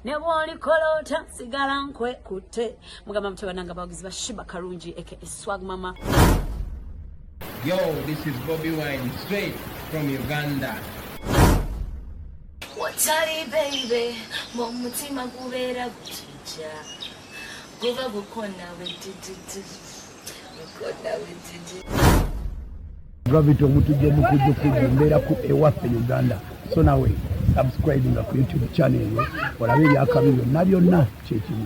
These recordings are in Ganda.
ne bwolikola otya sigala nkwekutte mugamba mutebananga abawagizi ba shiba kalungi eke eswag mama Yo, this is Bobby Wine, straight from Uganda. Watari baby, mumutima kubera kuti. Ja, guba gukona wejijiji, gukona wejijiji. Gravity omutujja omukujja okujja mbeera ku ewaffe Uganda so nawe subscribe nga ku YouTube channel eyo olabe ebyakabi byonna byonna kyekimu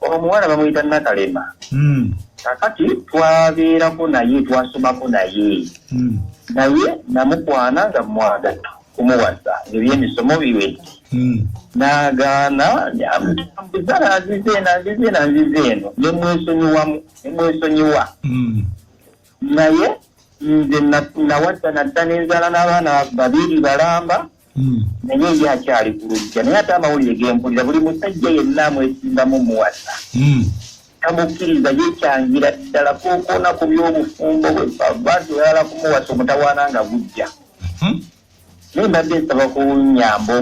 omuwala bamuyita nakalema hmm. kakati twabeerako naye twasomako naye hmm. naye namukwana nga mwagata kumuwasa ngebyemisomo biwedde hmm. nagaana ambuza nanzize eno anzize eno anzize eno nemwesonyiwamu nemwesonyiwa naye nze nawadda nadda nenzala n'abaana babiri balamba hmm. naye ye akyali ku lujja naye ate amawulire gempulira buli musajja yenna amwesimbamu muwasa hmm. tamukkiriza yekyangira ddala kokoona ku byobufumbo bwe lwaki oyala kumuwasa omutawaana nga gujja hmm. naye mbadde nsaba kunyamba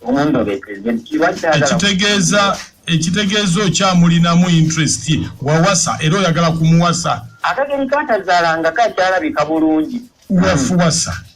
omundobekitegeeza ekitegeeza okyamulinamu interest wawasa era oyagala kumuwasa akageri katazaalanga kakyalabika bulungi wafuwasa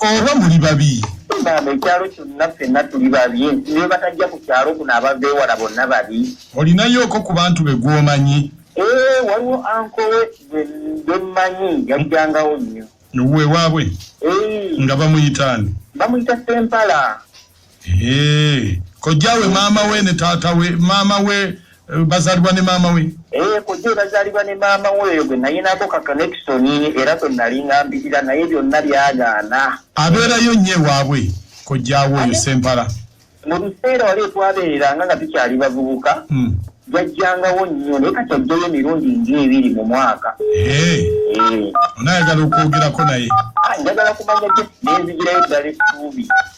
oba muli babi maama ekyalo kyonna ffenna tuli babi nti ne batajja ku kyalo kuno abava ewala bonna babi olinayooko ku bantu be gwomanyi ee waliwo ankowe bemmanyi yajjangawo nnyo ewuwe waabwe nga bamuyitaani bamuyita sempala Eh, kojja we maama we ne taata we maama we eh, bazalibwa ne maama we eh, kojja we bazalibwa ne maama we eyo gwe nayinako ka connection era gwe nali ngambirira naye byonna byagaana abeerayo nnyo ewaabwe kojja we oyo sempala mu biseera wali etwabeereranga nga tukyali bavubuka hmm. jajjangawo nnyo naye kati ajjayo emirundi ng'ebiri mu mwaka onayagala okwogerako naye ah, njagala kumanya nenzigireyo ddala essuubi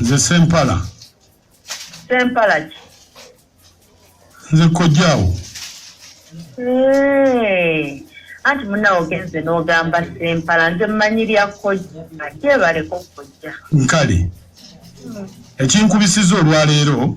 nze sempala sempala ki nze kojjaawo anti munawe ogenze n'ogamba sempala nze mmanyi lya kojja kyebaleko kojja nkale hmm. ekinkubisiza olwaleero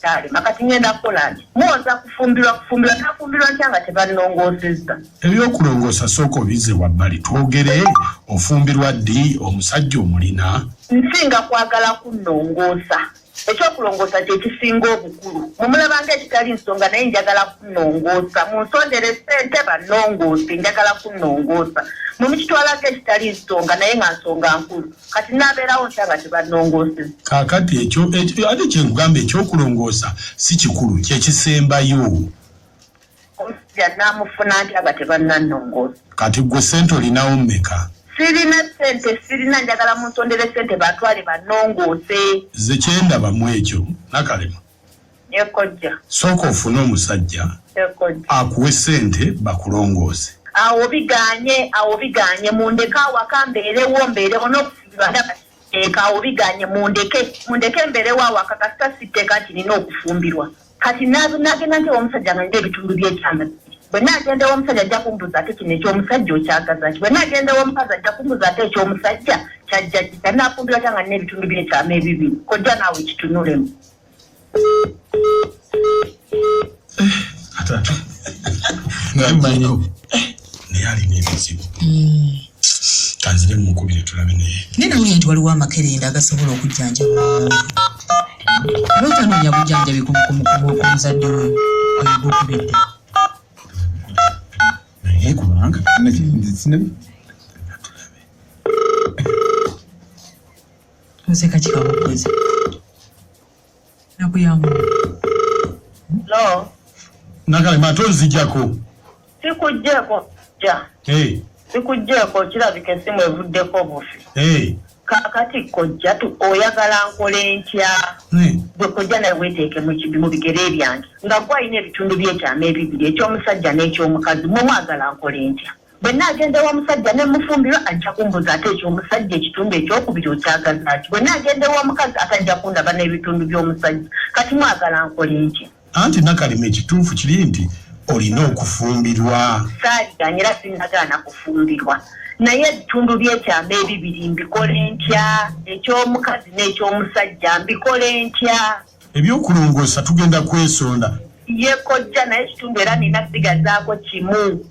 kyalema kati ngenda kukolani muwoza kufumbirwa kufumbirwa nafumbirwa ntya nga tebanongoosezza ebyokulongoosa sooka obize wabbali twogere ofumbirwa ddi omusajja omulina nsinga kwagala kunnongoosa ekyokulongoosa kyekisinga obukulu mumulabanga ekitali nsonga naye njagala kunnongoosa munsondere sente bannongoose njagala kunnongoosa mumukitwalanga ekitali nsonga naye nga nsonga nkulu kati nabeerawo ntya nga tebannongooseza kaakati ekyo ate kyenkugamba ekyokulongoosa si kikulu kyekisembayo omusajja namufuna ntya nga tebannannongoosa kati gwe sente olinawo mmeka sirina sente sirina njagala munsondere sente batwale bannongoose ze kyendaba mu ekyo nakalema Ekojja. Sooka ofune omusajja akuwe sente bakulongooze. Awo biganye, awo biganye mundeke awaka mbeerewo mbeerewo n'okufumbirwa ndaba siteeka. Awo biganye mundeke, mundeke mbeerewo awaka kasita siteeka nti nina okufumbirwa. Kati nagenda nti ew'omusajja nga nina ebitundu by'ekyama bibiri. Bwe nagenda ew'omusajja ajja kumbuuza ate kino eky'omusajja okyagaza ki? Bwe nagenda ew'omukazi ajja kumbuuza ate eky'omusajja kyajja ki? Kati nafumbirwa atya nga nina ebitundu by'ekyama ebibiri? Kojja naawe kitunulemu. naye alina ebizibu hmm. kanzire mumukubire tulabe naye naye nawulira nti waliwo amakerenda agasobola okujjanjaba lwotanoonya bujanjabi kumuzadde we ogukubidde naye kubanga Nze kati kabukoze nakuyangu no nakale mato nzijako sikujjeko ja hey. sikujjeko kirabika esimu evuddeko bufi hey. kakati kojja tu oyagala nkola entya gwe kojja naye weteeke mukibi mu bigere ebyange nga gwe alina ebitundu byekyama ebibiri ekyomusajja n'ekyomukazi mwe mwagala nkola entya bwe naagenda ewa musajja ne mufumbirwa ajja kumbuza ate ekyo omusajja ekitundu ekyokubiri okyagaza ki bwe naagenda ewa mukazi ate ajja kundaba n'ebitundu by'omusajja kati mwagala nkole ki anti nakalima ekituufu kiri nti olina okufumbirwa saaganye era sinagaana kufumbirwa naye ebitundu byekyama ebibiri mbikole ntya eky'omukazi n'eky'omusajja mbikole ntya ebyokulongoosa tugenda kwesonda ye kojja naye ekitundu era nina sigazaako kimu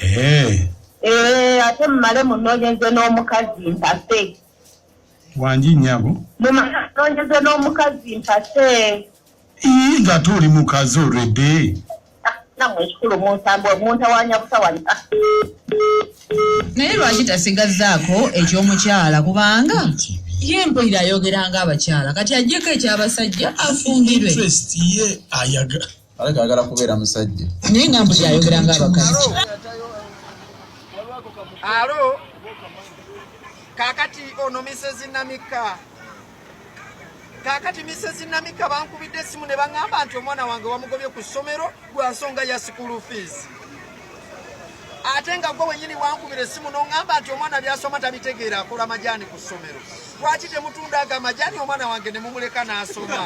Eh. Eh, ate mumale munonyeze n'omukazi mpase wangi nyabo mumale munonyeze n'omukazi mpase ii nga tuli mukazi olwedde ah, namwe ekikulu munsambo muntawanya butawanya ah. naye lwaki tasigazzaako eky'omukyala kubanga ye mpulira ayogera ng'abakyala kati ajjeko eky'abasajja afumbirwe ye ayaga alabika ayagala kubeera musajja naye nga mbuzi ayogera nga abakazi alo kakati ono misezi namika kakati misezi namika bankubidde esimu ne baŋŋamba nti omwana wange wamugobye ku ssomero gwa nsonga ya sikulu fiizi ate nga gwe wenyini wankubira esimu noŋamba nti omwana byasoma tabitegeera akola majaani ku ssomero lwaki temutunda ago amajaani omwana wange ne mumuleka n'asoma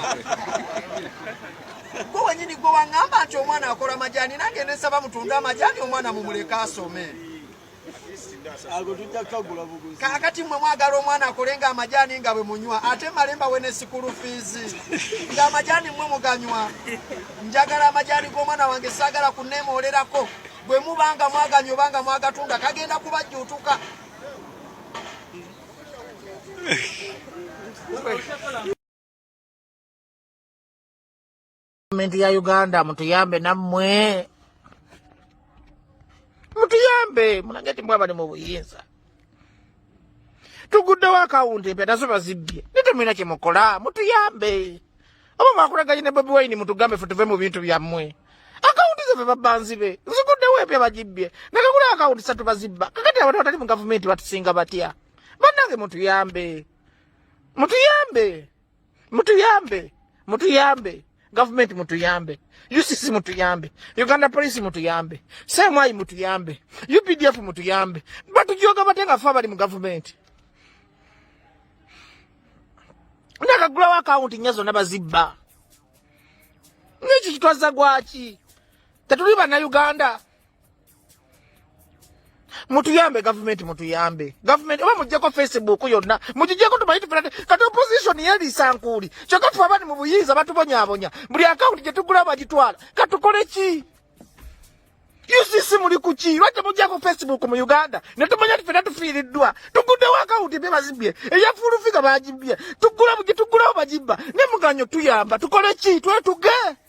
Gwe wenyini gwe wangamba nti omwana akola majani nange nesaba mutunde amajani omwana mumuleke asome. Kakati mwe mwagala omwana akole nga amajani nga bwe munywa ate malemba wene sikulu fizi nga amajani mwe muganywa. Njagala amajani g'omwana wange sagala kunemolerako bwe mubanga mwaganya obanga mwagatunda kagenda kubajjuutuka. Gavumenti ya Uganda mutuyambe nammwe mutuyambe mulage ti mwabali mu buyinza tuguddewo akawunti empya nazo bazibbye ne temulina kye mukola mutuyambe oba mwakulaganye ne bobi wayini mutugambe fe tuve mu bintu byammwe akawunti zaffe babanzibe ziguddewo empya bagibbye nakakula akawunti satu bazibba kakati abantu batali mu gavumenti batusinga batya bannange mutuyambe mutuyambe Mutuyambe, mutuyambe. Government mutuyambe. UCC mutuyambe. Uganda Police mutuyambe. CMI mutuyambe. UPDF mutuyambe. Batujoga batenga fa bali mu government. Nakagulawo akawunti nnya zonna bazibba. N'ekyo kitwazza gwaki? Tetuli bannayuganda. mutuyambe gavumenti mutuyambe gavumenti oba mujjeko facebook yonna mugijeko tumanyi tufera kati opposition yeliisa nkuuli kyokka ffe abani mu buyinza batubonyabonya buli akawunti gye tugula bagitwala katukole ki ucc muli kuki lwaki temujjako facebook mu uganda ne tumanya ti fena tufiiriddwa tuguddewo akawunti bye bazibbye eya fuulufiga bagibbye tugula gye tugulawo bagibba ne muganyo tuyamba tukole ki twetuge